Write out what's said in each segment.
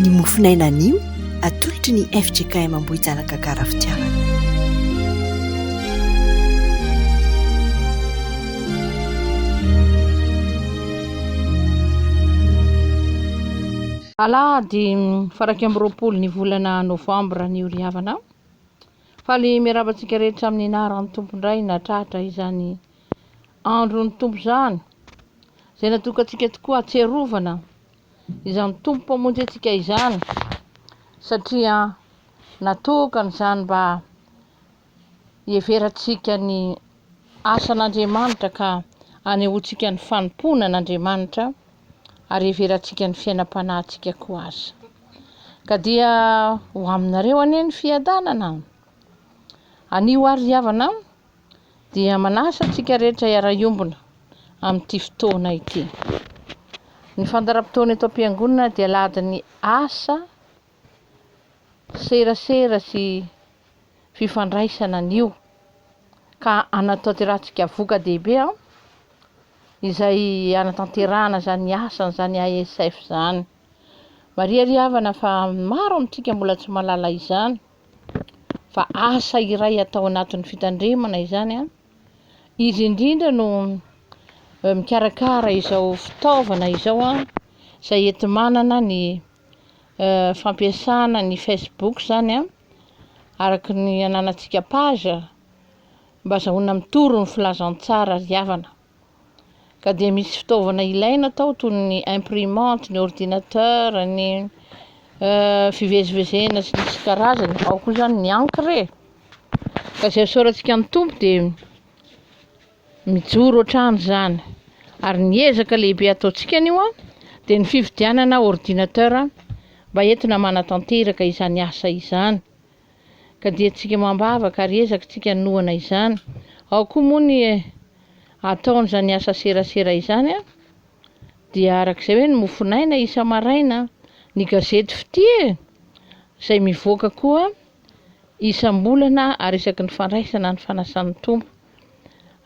Ny mofon'aina anio atolotry ny fjkm Ambohijanaka Garafitiavana. Alahady fara iraika amby roapolo ny volana novambra anio ry havana. Faly miarahaba antsika rehetra amin'ny anaran'ny Tompo indray nahatratra izany Andron'ny Tompo izany, izay natokantsika tokoa hatsiarovana izany Tompo Mpamonjy antsika izany, satria natokany izany mba hiheverantsika ny asan'Andriamanitra ka hanehoantsika ny fanompoana an'Andriamanitra ary hiheverantsika ny fiainam-panahintsika koa aza. Ka dia ho aminareo anie ny fiadanana. Anio ary ry havana, dia manasa antsika rehetra hiara-hiombona amin'ity fotoana ity. Ny fandaharam-potoana eto am-piangonana dia lahadin'ny asa serasera sy fifandraisana anio ka anatanterantsika voka-dehibe izay anatanterahana izany asany izany ASF izany. Mariary havana fa maro amintsika mbola tsy mahalala izany. fa asa iray atao anatin'ny fitandremana izany an, izy indrindra no mikarakara izao fitaovana izao an, izay enti-manana ny fampiasana ny Facebook izany an, araka ny ananantsika page mba azahoana mitory ny filazantsara ry havana. Ka dia misy fitaovana ilaina tao toy ny imprimante, ny ordinateur, ny euh, fivezivezena sy ny karazany, ao koa izany ny encre e. Ka izay soratsika amin'ny Tompo dia mijoro hatrany izany. Ary ny ezaka lehibe ataontsika anio dia ny fividianana ordinateur mba entina manatanteraka izany asa izany. ka dia tsika mambavaka ary ezaka tsika hanohana izany. Ao koa moa ny ataon'izany asa serasera izany a! dia arak'izay hoe ny mofonaina isa-maraina, ny gazety fitia e! izay mivoaka koa isam-bolana ary isaky ny fandraisana ny fanasan'ny Tompo.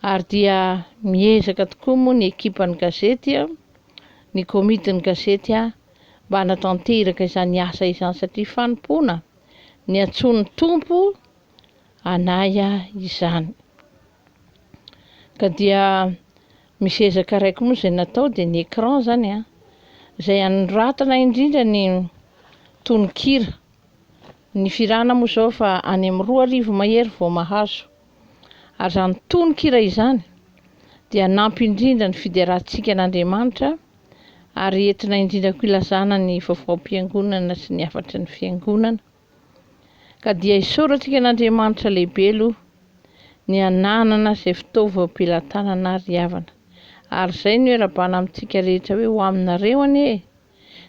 Ary dia miezaka tokoa moa ny ekipan'ny gazety a! ny komitin'ny gazety a! mba hanatanteraka izany asa izany satria fanompoana. ny antsoin'ny Tompo anay ahy izany. Ka dia misy ezaka raiky moa izay natao dia ny écran zany a, izay anoratana indrindra ny tononkira. Ny firana moa zao fa any amin'ny roa arivo mahery vao mahazo. Ary izany tononkira izany dia hanampy indrindra ny fiderantsika an'Andriamanitra ary entina indrindra koa ilazana ny vaovaom-piangonana sy ny hafatry ny fiangonana. Ka dia isaorantsika an'Andriamanitra lehibe aloha ny ananana izay fitaovam-pelatanana ary havana. Ary izay no iarabana amintsika rehetra hoe ho aminareo anie e!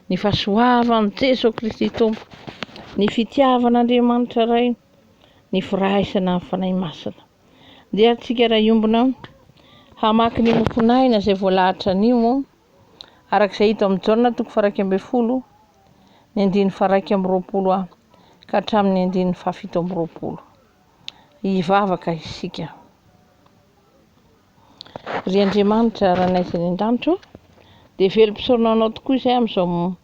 Ny fahasoavan'i Jesoa Kristy Tompo, ny fitiavan'Andriamanitra Ray, ny firaisana amin'ny Fanahy Masina. Dia antsika raha hiombona hamaky ny mofon'aina izay voalahatra anio, araka izay hita amin'ny Jaona toko faraika ambin'ny folo, ny andininy faraika amby roapolo aho, ka hatramin'ny andininy fahafito amby roapolo. Hivavaka isika. Ry Andriamanitra Ranaiza any an-danitra ô, dia velom-pisaorana Anao tokoa izay amin'izao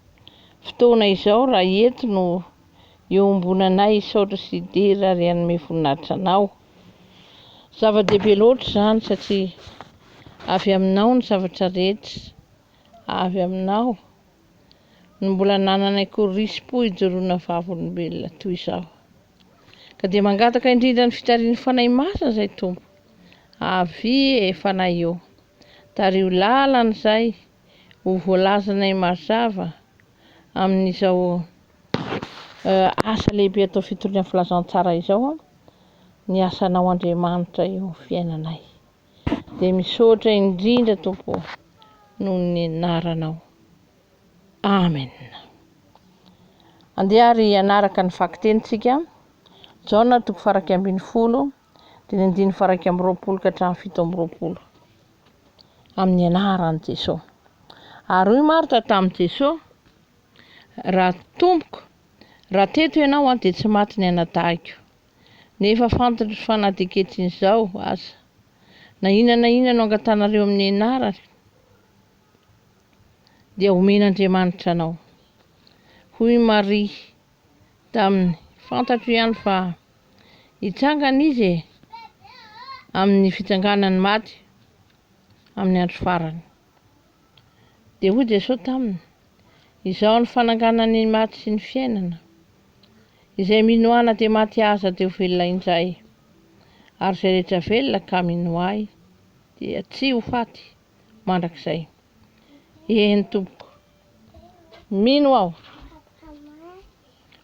fotoana izao raha eto no iombonanay hisaotra sy hidera ary hanome voninahitra Anao. Zava-dehibe loatra izany satria avy Aminao ny zavatra rehetra, avy Aminao no mbola nanana i Korispo hijoroana vavolombelona toy izao. Ka dia mangataka indrindra ny fitarian'ny Fanahy Masina izay Tompo. Avia e Fanahy ô! Tariho lalana izay ho voalazanay mazava amin'izao asa lehibe atao fitoriana filazantsara izao ny asanao Andriamanitra eo amin'ny fiainanay. Dia misaotra indrindra Tompo noho ny anaranao. Amen. Andeha ary hanaraka ny vakiteny tsika. Jaona toko faraika ambin'ny folo, diny andiny faraika amby roapolo ka hatramin'ny fito amby roapolo. Amin'ny anaran'i Jesoa. Ary hoy Marta tamin'i Jesoa, raha tompoko, raha teto ianao an dia tsy maty ny anadahiko. Nefa fantotro fa na dia ketrin'izao aza, na inona na inona no angatanareo amin'ny anarany, dia homen'Andriamanitra anao. Hoy Maria taminy, fantatro ihany fa hitsangana izy e, amin'ny fitsanganan'ny maty, amin'ny andro farany. Dia hoy Jesosy taminy, izao ny fananganany ny maty sy ny fiainana, izay mino ana dia maty aza dia ho velona indray, ary izay rehetra velona ka mino ahy dia tsy ho faty. mandrakizay. Eny tompoko. Mino aho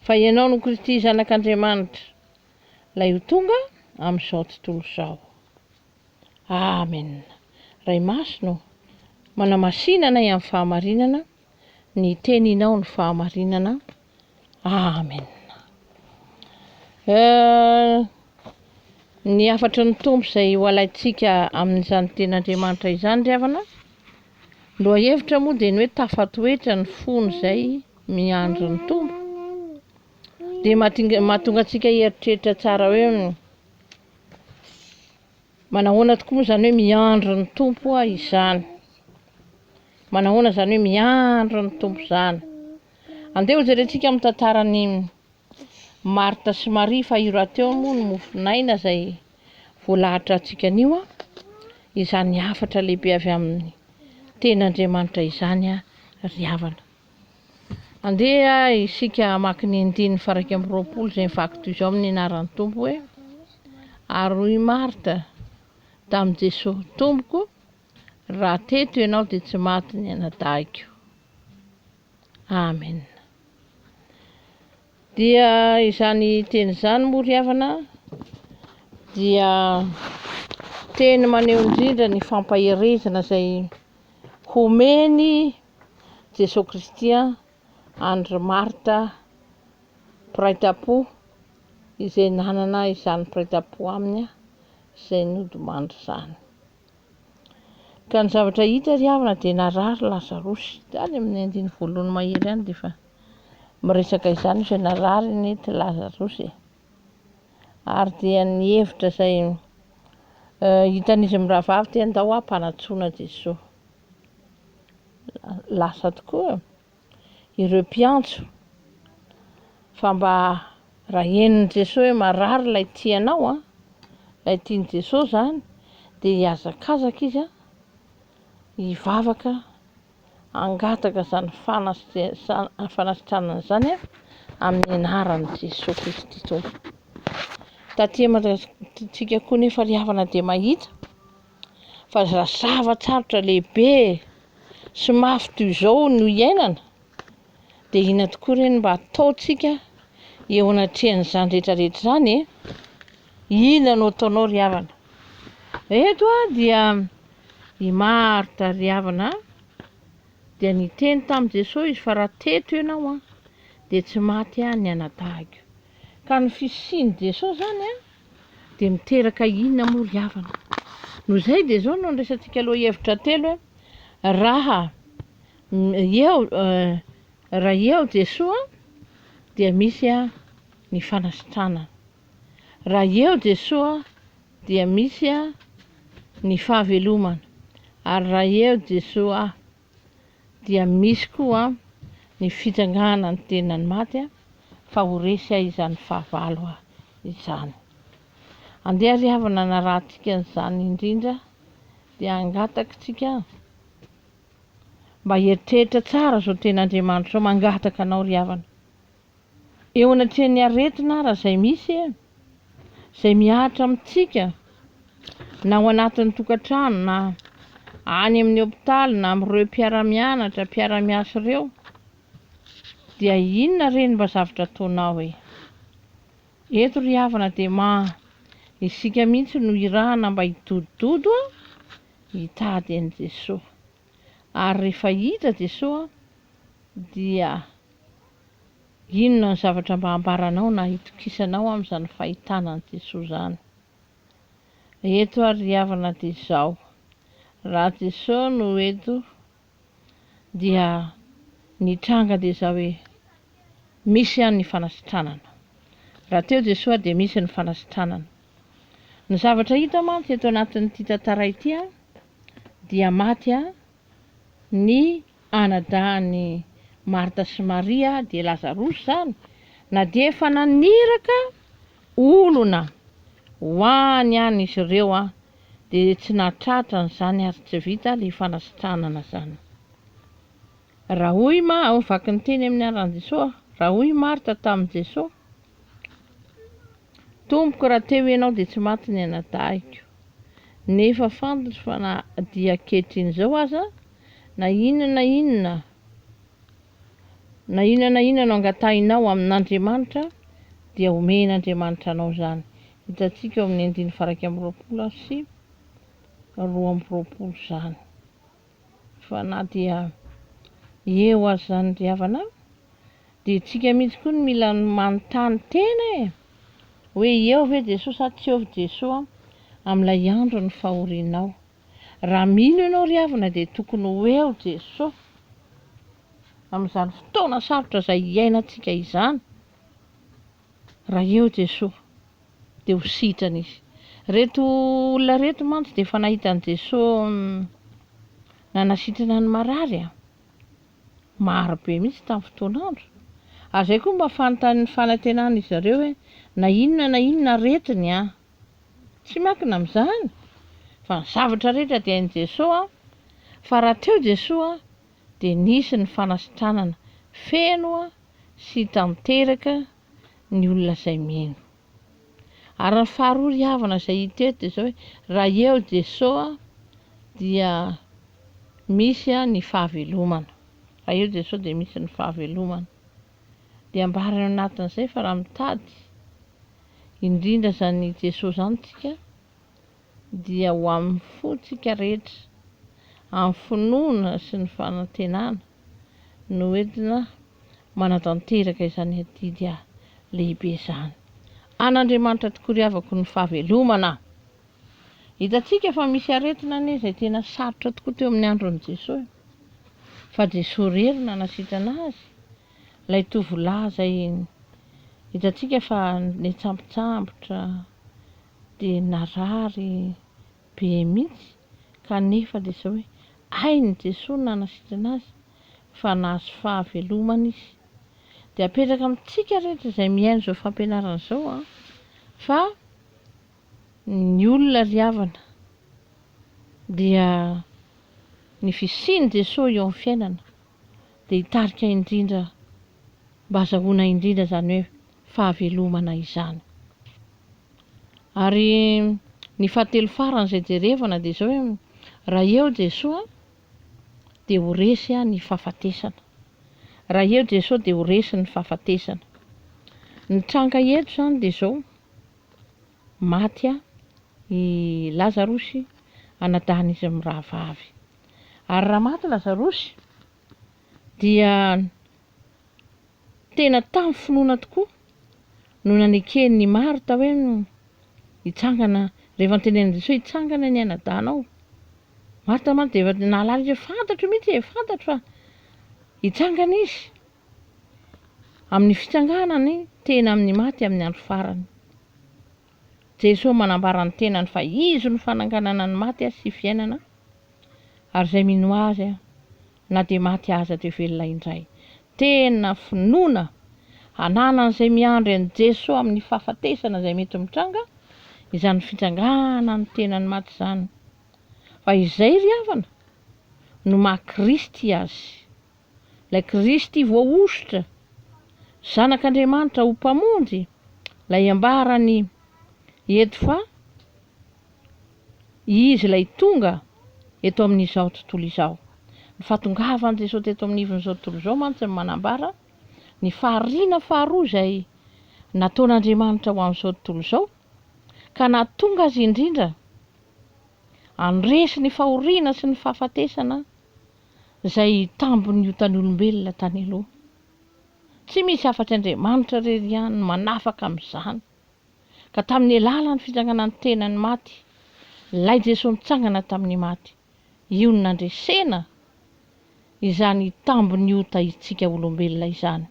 fa ianao no Kristy zanak'Andriamanitra lay ho tonga amin'izao tontolo izao. Amen. Ray Masina manamasina anay amin'ny fahamarinana, ny teninao ny fahamarinana. Amen. Euh, ny hafatry ny Tompo izay ho alaintsika amin'izany tenin'Andriamanitra izany ry havana, lohahevitra moa dia ny hoe tafatoetra ny fony izay miandry ny Tompo, dia mahatonga antsika hieritreritra tsara hoe Manahoana tokoa moa izany hoe miandry ny Tompo aho izany? Manahoana izany hoe miandry ny Tompo izany? Andeha hojerentsika amin'ny tantaran'i Marta sy Maria fa io rahateo moa ny mofon'aina izay voalahatra antsika anio a, izany hafatra lehibe avy amin'ny tenin'Andriamanitra izany a, ry havana. Andeha isika hamaky ny andininy faraika amby roapolo izay mivaky toy izao amin'ny anaran'ny Tompo hoe Ary hoy Marta tamin'i Jesosy, Tompoko, raha teto ianao dia tsy maty ny anadahiko. Amen. Dia izany teny izany moa ry havana dia teny maneho indrindra ny fampaherezana izay homen'i Jesoa Kristy an-dry Marta mpiray tam-po izay nanana izany mpiray tam-po aminy izay nodimandry izany. Ka ny zavatra hita ry havana dia narary Lazarosy, tany amin'ny andininy voalohany mahery ihany dia efa Miresaka izany Jeneraly Nity Lazarous e! ary dia ny hevitra izay hitan'izy mirahavavy dia ndao hampanatsoina Jesoa. Lasa tokoa ireo mpiantso fa mba raha henon'i Jesoa hoe marary ilay tianao an, ilay tian'i Jesoa izany dia hihazakazaka izy hivavaka. hangataka izany fanasitranana izany amin'ny anaran'i Jesoa Kristy Tompo. Taty Madagasikara koa nefa ry havana dia mahita fa zava-tsarotra lehibe sy mafy toy izao no iainana dia inona tokoa ireny mba ataontsika eo anatrehan'izany rehetra rehetra izany e? Inona no ataonao ry havana? Eto dia I Marta ry havana a, dia niteny tamin'i Jesoa izy fa raha teto ianao a, dia tsy maty aho ny anadahiko. Ka ny fisian'i Jesoa izany a, dia miteraka inona moa ry havana? Noho izay dia izao no andraisantsika aloha hevitra telo hoe, raha eo raha eo Jesoa dia misy ny fanasitranana. Raha eo Jesoa dia misy aho ny fahavelomana ary raha eo Jesoa aho dia misy koa ny fitsangana ny tenany maty fa ho resy ahy izany fahavalo ahy izany. Andeha ry havana hanarahantsika an'izany indrindra dia hangatakitsika mba hieritreritra tsara izao ten'Andriamanitra izao mangataka anao ry havana. eo anatrehan'ny aretina ara izay misy e, izay mihatra amintsika na ao anatin'ny tokantrano na any amin'ny hopitaly na amin'ireo mpiara-mianatra, mpiara-miasa ireo, dia inona re ny mba zavatra ataonao e? Eto ry havana dia ma isika mihitsy no irahana mba hidodododo a, hitady an'i Jesoa. Ary rehefa hidra Jesoa dia inona ny zavatra mba hambaranao na hitokisanao amin'izany fahitana an'i Jesoa izany? Eto ary ry havana dia izao, raha Jesoa no eto dia ny tranga dia izao hoe misy ihany ny fanasitranana. Raha teo Jesoa dia misy ny fanasitranana. Ny zavatra hita mantsy eto anatin'ity tantara ity a, dia maty a, ny anadahin'i Marta sy Maria a, dia Lazarosy izany, na dia efa naniraka olona ho any any izy ireo a, dia tsy nahatratra an'izany ary tsy vita ilay fanasitranana izany. Raha hoy i Ma ao vaky ny teny amin'ny anran'i Jesoa aho, raha hoy i Marta tamin'i Jesoa, Tompoko, raha teo Ianao dia tsy maty ny anadahiko. Nefa fantatro fa na dia ankehitriny izao aza, na inona na inona, na inona na inona no angatahinao amin'Andriamanitra, dia homen'Andriamanitra anao izany. Hitantsika ao amin'ny andininy faha iraika amby roapolo sy roa amby roapolo izany. Fa na dia eo aza izany ry havana a, dia isika mihitsy koa no mila manontany tena e! hoe eo ve Jesoa sa tsy eo Jesoa amin'ilay andron'ny fahorianao. Raha mino ianao ry havana dia tokony ho eo Jesoa amin'izany fotoana sarotra izay iainantsika izany. Raha eo Jesoa dia ho sitrana izy. Ireto olona ireto mantsy dia efa nahita an'i Jesoa nanasitrana ny marary a! maro be mihitsy tamin'ny fotoan'andro. Ary izay koa mba fanontanian'ny fanantenan'izy zareo hoe na inona na inona aretiny a! tsy miankina amin'izany fa ny zavatra rehetra dia hain'i Jesoa fa raha teo Jesoa dia nisy ny fanasitranana feno sy tanteraka ny olona izay mino. Ary ny faharoa ry havana izay hita eto dia izao hoe, raha eo Jeso dia misy ny fahavelomana. Raha eo Jeso dia misy ny fahavelomana. Dia ambarany ao anatin'izay fa raha mitady indrindra izany Jeso izany isika, dia ho amin'ny fontsika rehetra, amin'ny finoana sy ny fanantenana no entina manatanteraka izany adidy lehibe izany. An'Andriamanitra tokoa ry havako ny fahavelomana! Hitantsika fa misy aretina anie izay tena sarotra tokoa teo amin'ny andron'i Jesoa, fa Jesoa irery no nanasitrana azy, ilay tovolahy izay hitantsika fa netsambotsambotra, dia narary be mihitsy kanefa dia izao hoe hain'i Jesoa ny nanasitrana azy fa nahazo fahavelomana izy dia apetraka amintsika rehetra izay mihaino izao fampianarana izao an fa ny olona ry havana dia ny fisian'i Jesoa eo amin'ny fiainana dia hitarika indrindra mba azahoana indrindra izany hoe fahavelomana izany. Ary ny fahatelo farany izay jerevana dia izao hoe, raha eo Jesoa dia ho resy ny fahafatesana. Raha eo Jesoa dia ho resy ny fahafatesana. Ny tranga eto izany dia izao, maty i Lazarosy anadahin'izy mirahavavy. Ary raha maty Lazarosy dia Tena tamin'ny finoana tokoa no naneken'ny Marta hoe hitsangana, rehefa notenenin'i Jesoa hoe hitsangana ny ainadahinao. Marta mantsy dia efa nahalala izy hoe fantatro mihitsy e, fantatro fa hitsangana Izy. Amin'ny fitsanganany tena amin'ny maty amin'ny andro farany. Jesoa manambara ny tenany fa Izy no fananganana ny maty sy fiainana, ary izay mino Azy na dia maty aza dia velona indray. Tena finoana hananan'izay miandry an'i Jeso amin'ny fahafatesana izay mety mitranga izany fitranganany ny tenany maty izany. Fa izay ry havana no maha Kristy azy. Ilay Kristy voahosotra, zanak'Andriamanitra ho Mpamonjy, ilay ambaran'i Ed fa. Izy ilay tonga eto amin'izao tontolo izao. Ny fahatongavan'i Jesoa teto amin'ny ivon'izao tontolo izao mantsy no manambara ny fahariana faharoa izay nataon'Andriamanitra ho an'izao tontolo izao, ka nahatonga Azy indrindra handresy ny fahoriana sy ny fahafatesana izay tambin'ny otan'ny olombelona tany aloha. Tsy misy afa-tsy Andriamanitra irery ihany no manafaka amin'izany. ka tamin'ny alalan'ny fitsanganan'ny tenany maty, ilay Jesoa nitsangana tamin'ny maty, io no nandresena izany tambin'ny ota hitsika olombelona izany.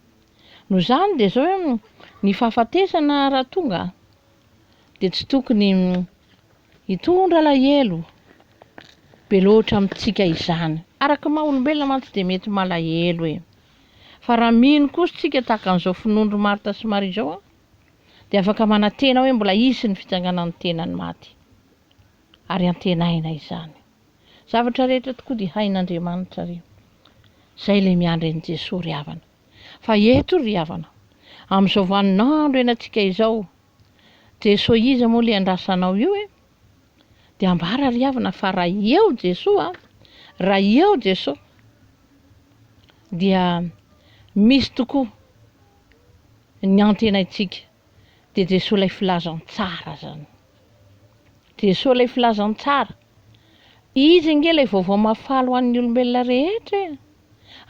Noho izany dia izao hoe ny fahafatesana raha tonga dia tsy tokony hitondra alahelo be loatra amintsika izany. Araka ny maha olombelona mantsy dia mety malahelo e! Fa raha mino kosa isika tahaka an'izao finoan'i ry Marta sy Maria izao, dia afaka manantena hoe mbola hisy ny fitsanganan'ny tenan'ny maty. Ary antenaina izany. Zavatra rehetra tokoa dia hain'Andriamanitra ry. Izay ilay miandry an'i Jesoa ry havana. Fa eto ry havana, amin'izao vanin'andro ianantsika izao, Jesoa iza moa ilay andrasanao io e? Dia ambara ry havana fa raha eo Jesoa, raha eo Jesoa, dia misy tokoa. Ny antenaintsika dia Jesoa ilay Filazantsara zany. Jesoa ilay Filazantsara. Izy ange ilay vaovao mahafaly ho an'ny olombelona rehetra e!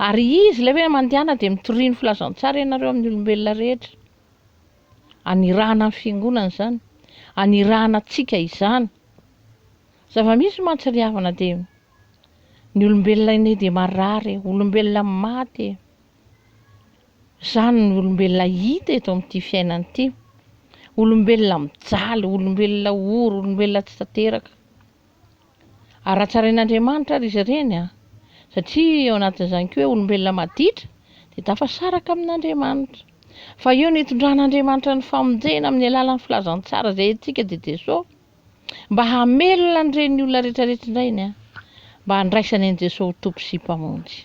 Ary Izy ilay hoe mandehana dia mitoria ny Filazantsara ianareo amin'ny olombelona rehetra. Anirahana ny Fiangonana izany. Anirahana antsika izany. Zava-misy mantsy ry havana dia ny olombelona anie dia marary e, olombelona maty e. Izany no olombelona hita eto amin'ity fiainana ity. Olombelona mijaly, olombelona ory, olombelona tsy tanteraka. Ary hatsarain'Andriamanitra ary izy ireny an, satria ao anatin'izany koa hoe olombelona maditra dia tafasaraka amin'Andriamanitra. Fa eo no itondran'Andriamanitra ny famonjena amin'ny alalan'ny filazantsara izay entintsika dia Jesoa. Mba hamelona an'ireny olona rehetra rehetra indray ny an, mba handraisany an'i Jesoa ho Tompo sy Mpamonjy.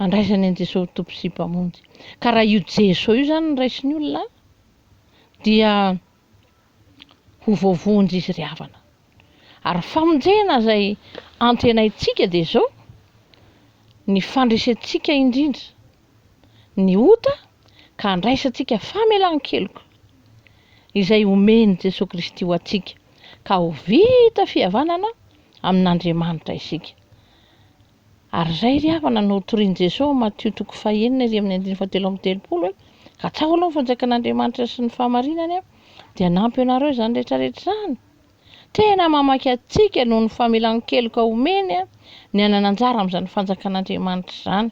andraisany an'i Jesosy ho Tompo sy Mpamonjy. Ka raha io Jesosy io zany no raisin'ny olona dia ho voavonjy izy ry havana. Ary famonjena izay antenaintsika dia izao, ny fandresentsika indrindra ny ota ka andraisantsika famelan-keloka izay omen'i Jesosy Kristy ho antsika ka ho vita fihavanana amin'Andriamanitra isika. Ary izay ry havana no hotorian'i Jesoa ao Matio toko fahenina iry amin'ny andininy fahatelo amby telopolo hoe, Katsaho aloha ny fanjakan'Andriamanitra sy ny fahamarinany dia hanampy anareo izany rehetra rehetra izany. Tena mamaky antsika noho ny famelan-keloka omeny ny hanana anjara amin'izany fanjakan'Andriamanitra izany.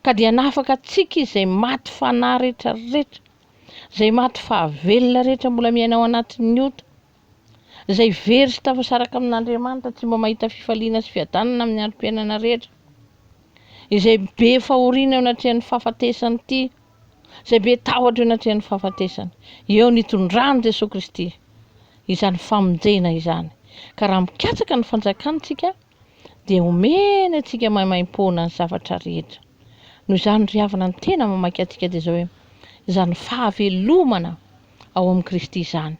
Ka dia hanafaka antsika Izy izay maty fanahy rehetra rehetra, izay maty fahavelona rehetra mbola miaina ao anatin'ny ota. Izay very sy tafasaraka amin'Andriamanitra tsy mba mahita fifaliana sy fiadanana amin'ny androm-piainana rehetra. Izay be fahoriana eo anatrehan'ny fahafatesana ity, izay be tahotra eo anatrehan'ny fahafatesana. Eo no itondran'i Jesoa Kristy izany famonjena izany. Ka raha mikatsaka ny fanjakany isika dia omeny antsika maimaim-poana ny zavatra rehetra. Noho izany ry havana ny tena mamaky antsika dia izao hoe, izany fahavelomana ao amin'i Kristy izany.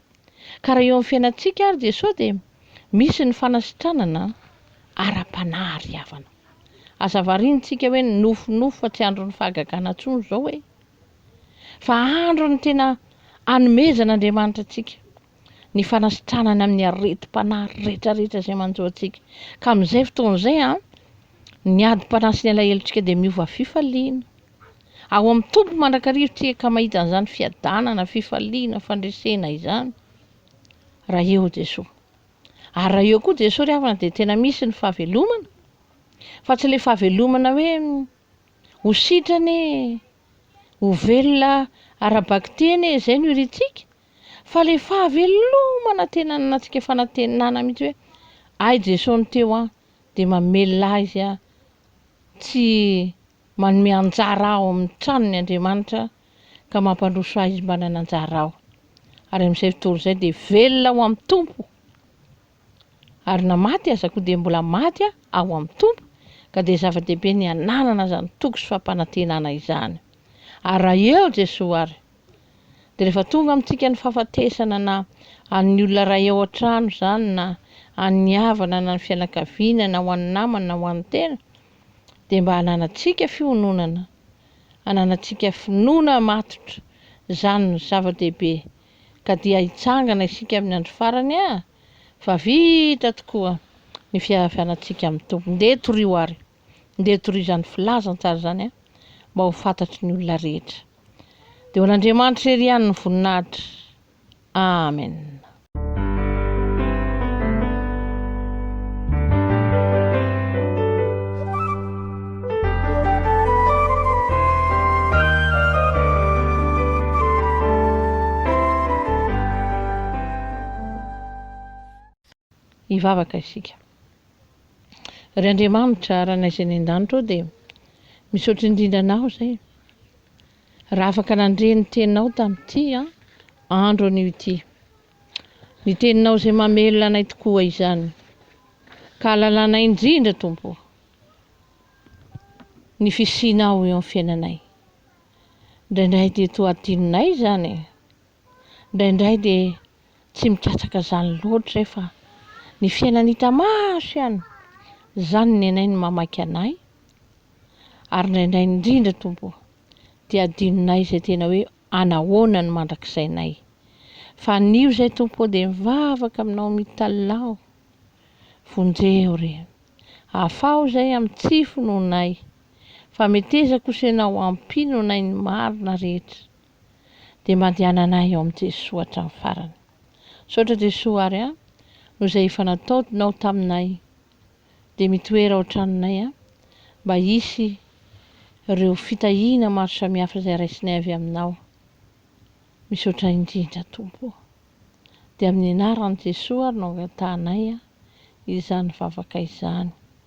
Ka raha eo amin'ny fiainantsika ary Jesoa dia misy ny fanasitranana ara-panahy ary havana. Aza variantsika hoe nofinofy fa tsy andron'ny fahagagana intsony izao e! Fa andron'ny tena anomezan'Andriamanitra antsika ny fanasitranany amin'ny aretim-panahy retraretra izay manjo antsika. Ka amin'izay fotoana izay an, ny adim-panahy sy ny alahelontsika dia miova fifaliana. Ao amin'ny Tompo mandrakariva isika ka mahita an'izany fiadanana, fifaliana, fandresena izany raha eo Jesoa. Ary raha eo koa Jesoa ry havana dia tena misy ny fahavelomana fa tsy ilay fahavelomana hoe ho sitrana e, ho velona ara-bakiteny e, izay no irintsika fa ilay fahavelomana tena nanantsika fanantenana mihitsy hoe ay Jesoa no teo aho dia mamelona azy aho tsy Manome anjara ao amin'ny tranony Andriamanitra ka mampandroso ahy izy mba nananjara ao. Ary amin'izay fotoana izay dia velona ao amin'ny Tompo. Ary na maty aza koa dia mbola maty aho ao amin'ny Tompo, ka dia zava-dehibe ny hananana izany toky sy fampanantenana izany. Ary raha eo Jesoa ary, dia rehefa tonga amintsika ny fahafatesana na an'ny olona iray ao an-trano izany na an'ny havana na ny fianakaviana na ho an'ny namana na ho an'ny tena, dia mba hananantsika fihononana, hananantsika finoana matotra, izany no zava-dehibe, ka dia hitsangana isika amin'ny andro farany a! fa vita tokoa ny fiavianantsika amin'ny Tompo. Ndeha torio ary, ndeha torio izany filazantsara izany a! mba ho fantatry ny olona rehetra. Dia ho an'Andriamanitra irery ihany ny voninahitra. Amen. Hivavaka isika. Ry Andriamanitra, Ranay izay any an-danitra ao dia misaotra indrindra Anao izay Raha afaka nandre ny teninao tamin'ity andro anio ity, ny teninao izay mamelona anay tokoa izany, ka halalanay indrindra, Tompo ô, ny fisianao eo amin'ny fiainanay. Indraindray dia toa hadinonay izany e! Indraindray dia tsy mikatsaka izany loatra aho fa ny fiainana hita maso ihany, izany ny nenay no mamaky anay ary indraindray indrindra Tompo o, dia adinonay izay tena hoe anahoana ny mandrakizainay. Fa anio izay Tompo o dia mivavaka aminao mitalaho, vonjeho re, afaho izay amin'ny tsy finoanay, fa metezako sy ianao ampino anay ny marina rehetra. dia mandehanana eo amin'i Jesoa hatramin'ny farany. Misaotra Jesoa ary an, noho izay efa nataonao taminay. Dia mitoera ao an-tranonay an, mba hisy ireo fitahiana maro samihafa izay raisinay avy aminao. Misaotra indrindra Tompo o. Dia amin'ny anaran'i Jesoa ary no angatahanay izany vavaka izany.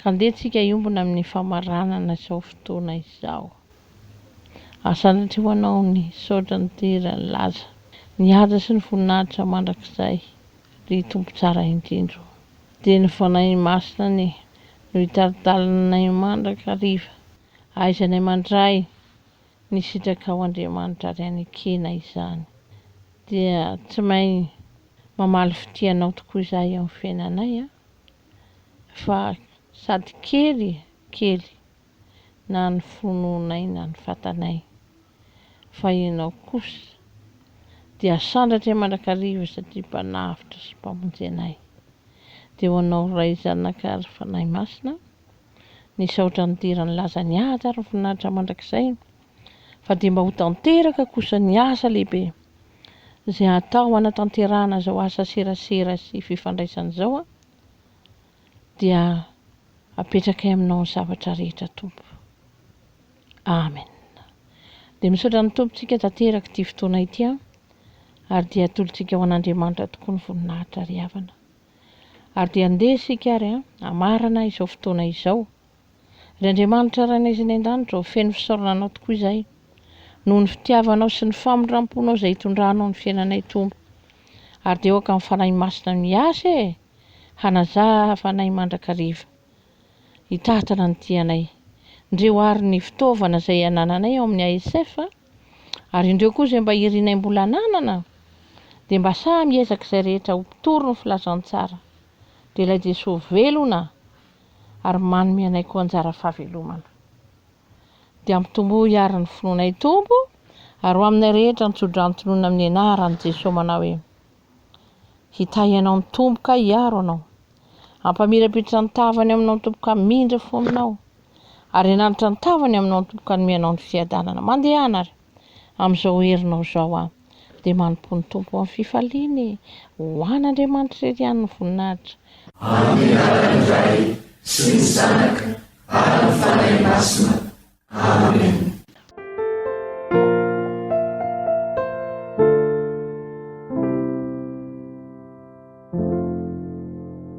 Ka ndeha tsika hiombona amin'ny famaranana izao fotoana izao. Ary sanatria ho Anao ny saotra ny dera ny laza, ny haja sy ny voninahitra mandrakizay ry Tompo tsara indrindra o. Dia ny Fanahy Masina anie no hitari-dalana anay mandrakariva, ahaizanay mandray ny sitrakao Andriamanitra ary anekena izany. Dia tsy main mamaly fitia Anao tokoa izahay amin'ny fiainanay an. fa sady kely kely na ny finoanay na ny fatanay fa ianao kosa dia asandratra mandrakariva satria mpanavotra sy mpamonjy anay dia ho anao ray zanaka ary fanahy masina nisaotra nidera nilaza ny ady ary voninahitra mandrakizay fa dia mba ho tanteraka kosa ny asa lehibe izay atao hanatanterahana izao asa serasera sy fifandraisana izao dia apetrakay aminao ny zavatra rehetra tompo amen dia misaotra ny tompontsika tanteraka ity fotoana ity an ary dia atolotsika ho an'andriamanitra tokoa ny voninahitra ry havana ary dia andeha isika ary an amarana izao fotoana izao Ry Andriamanitra Rainay izay any an-danitra ô, feno fisaorana Anao tokoa izahay noho ny fitiavanao sy ny famindram-ponao izay itondranao ny fiainanay Tompo. Ary dia aoka ny Fanahy Masina miasa e! hanazava anay mandrakariva, hitantana ny tianay. Ndreo àry ny fitaovana izay anananay ao amin'ny ASF, ary indreo koa izay mba irinay mbola ananana, dia mba samy hiezaka izay rehetra ho mpitory ny filazantsara. Dia Ilay Jesoa velona! ary manome anay koa anjara fahavelomana. Dia ampitomboy hiary ny finoanay Tompo ary ho aminay rehetra ny tsodrano tononina amin'ny anaran'i Jesoa manao hoe, Hitahy anao ny Tompo ka hiaro anao. Ampamirapiritra ny tavany aminao ny Tompo ka hamindra fononao. Ary hananitra ny tavany aminao ny Tompo ka hanome anao ny fiadanana. Mandehana ary. amin'izao herinao izao aho, dia manompoa ny Tompo amin'ny fifaliana e! Ho an'Andriamanitra irery ihany ny voninahitra. Amin'ny anaran'ny Ray sy ny Zanaka ary ny Fanahy Masina. Amena.